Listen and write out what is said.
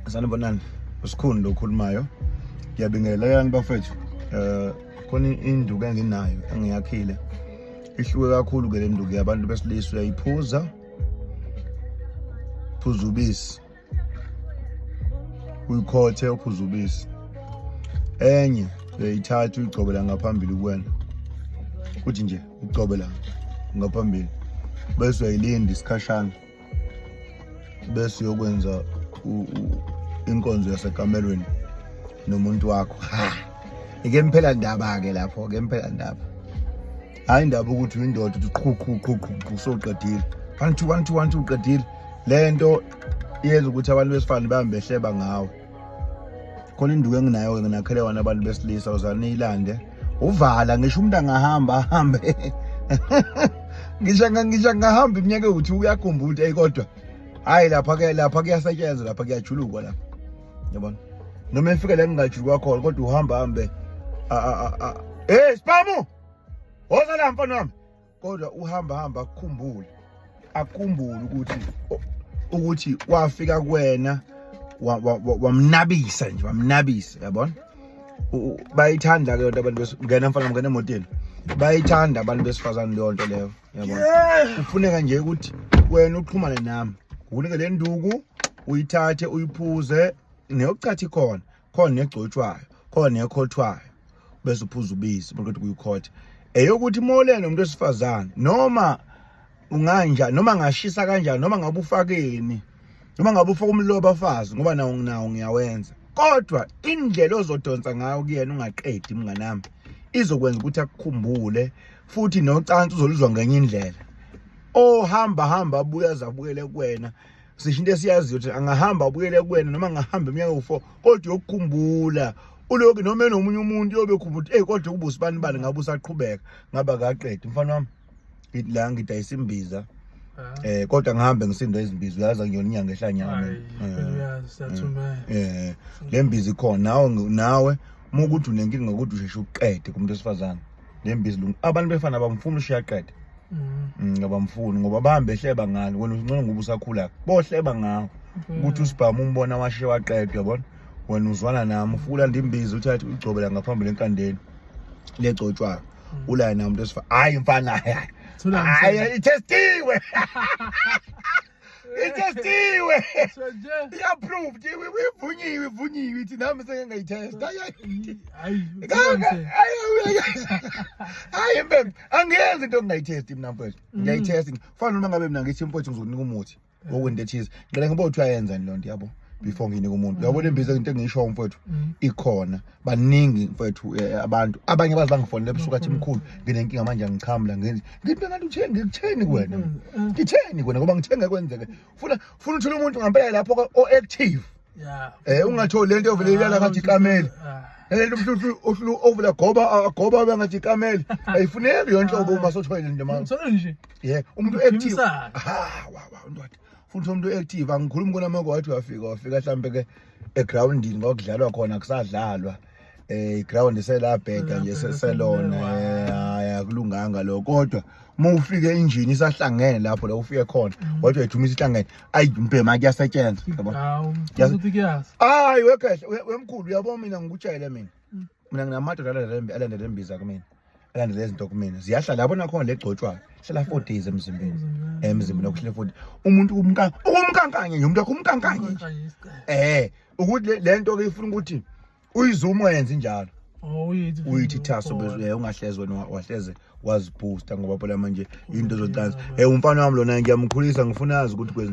sanibonani usikhuni lo khulumayo ngiyabingelela yani bafethu eh khona induku enginayo engiyakhile ihluke kakhulu ke le nduku yabantu besilisa uyayiphuza phuza ubisi uyikhothe uphuza ubisi enye uyayithatha uyigcobela ngaphambili kuwena kuthi nje ugcobela ngaphambili bese uyayilinda isikhashana bese uyokwenza inkonzo yasekamelweni nomuntu wakho ha ike mphela ndaba ke lapho ke mphela ndaba hayi indaba ukuthi uyindoda uthi qhu qhu qhu qhu qhu soqedile one two one two one two uqedile lento yenza ukuthi abantu besifane bambe hleba ngawe khona induku enginayo-ke nginakhele wona abantu besilisa uzane niyilande uvala ngisho umuntu angahamba ahambe ngisho ngisho ngahamba iminyaka ewuthi uyakhumbula eyi kodwa hhayi lapha ke lapha kuyasetshenzwa lapha kuyajulukwa lapha yabona noma efika la ngingajulukwa khona kodwa uhamba hambe hey sipamu woza la mfana wami kodwa uhamba hamba akukhumbule akukumbule ukuthi ukuthi wafika kuwena wamnabisa nje wamnabisa yabona bayithanda ke yonto abantu besingena mfana mngena emotweni bayithanda abantu besifazane leyo nto leyo yabona kufuneka nje ukuthi wena uxhumane nami unike le nduku uyithathe uyiphuze neyokucathi khona khona egcotshwayo khona ekhothwayo bese uphuza ubisi maqeda kuyikhotha eyokuthi molele umuntu wesifazane noma unganja noma ngashisa kanjani noma ngabe ufakeni noma ngabe ufaka umloba fazi ngoba nawo nginawo ngiyawenza kodwa indlela ozodonsa ngayo kuyena ungaqedi mnganami izokwenza ukuthi akukhumbule futhi nocansi uzoluzwa ngenye indlela ohamba hamba abuye azabukele kuwena sisho into esiyaziyo ukuthi angahamba abuyele kuwena noma angahamba iminyaka ewu-four kodwa yokukhumbula uloku noma enomunye umuntu yobe ukhumbula ukuthi eyi kodwa ubusi bani bani ngabe usaqhubeka ngaba kaqedi mfana wami ngithi la ngidayisa imbiza eh kodwa ngihambe ngisindwa izimbiza uyazi ngiyona inyanga ehlanyana eh le mbiza ikhona nawe nawe uma ukuthi unenkinga ngokuthi usheshe uqede kumuntu wesifazane le mbiza lungu abantu befana abamfuni ushiyaqede mm. mm, ngabamfuni ngoba bahambe ehleba ngalo wena uncane ngoba usakhula bohleba ngawo mm. ukuthi usibhamu umbona washe waqedwa yabona wena uzwana nami ufukula ndimbiza uthi athi ugcobela ngaphambili enkandeni legcotshwayo mm. ulaye namuntu esifa hayi mfana hayi hayi itestiwe itestiwe i-approved ivunyiwe ivunyiwe ithi nami seke ngayithesta hayi mbem angiyenzi into ngingayithesti mina mfethu mm. ngiyayithesta kufanele uma ngabe mina ngithi mfethu ngizokunika umuthi wokwenta ethize ngicela ngibe uthi uyayenzani loo nto yabo before nginika umuntu uyabona imbiza into engisho mfethu mm. ikhona baningi mfethu eh, eh, abantu abanye baze bangifonele ebusuku athi mkhulu nginenkinga manje angichamla ngenzi ngithi ngathi uthenge ngikutheni kuwena mm, mm. ngitheni kuwena ngoba ngithenge kwenzeke funa funa uthole umuntu ngampela lapho o active yeah eh ungatholi lento ovele ilala ngathi ikameli lento mhlu uhlu ovela goba goba bengathi ikameli ayifuneki yonke obo uma sothwele nje manje solo nje yeah umuntu active ha wa wa ndwathi futhi umuntu active angikhulumi kunamako wathi wafika wafika hlambe ke egroundini ngokudlalwa khona kusadlalwa eh iground selabheda nje selona eh, akulunganga lo kodwa uma ufike injini isahlangene lapho la ufike khona mm. wathi wethumisa ihlangene ayi mbhema kuyasetshenzwa yabo hayi wekhehle wemkhulu uyabona mina ngikujayele mina mm. mina nginamadoda alandele imbiza kumina alandele izinto kumina ziyahlala yabona khona legcotshwayo hlala 4 days emzimbeni emzimbeni okuhlele 4 umuntu kumka ukumkankanye nje umuntu akumkankanye nje eh ukuthi lento ke ifuna ukuthi uyizumo yenze njalo oh, uyithi thaso bezwe eh, ungahlezwe wahleze wazibooster ngoba phela manje into zocansi eh umfana wami lona ngiyamkhulisa ngifuna azi ukuthi kwenza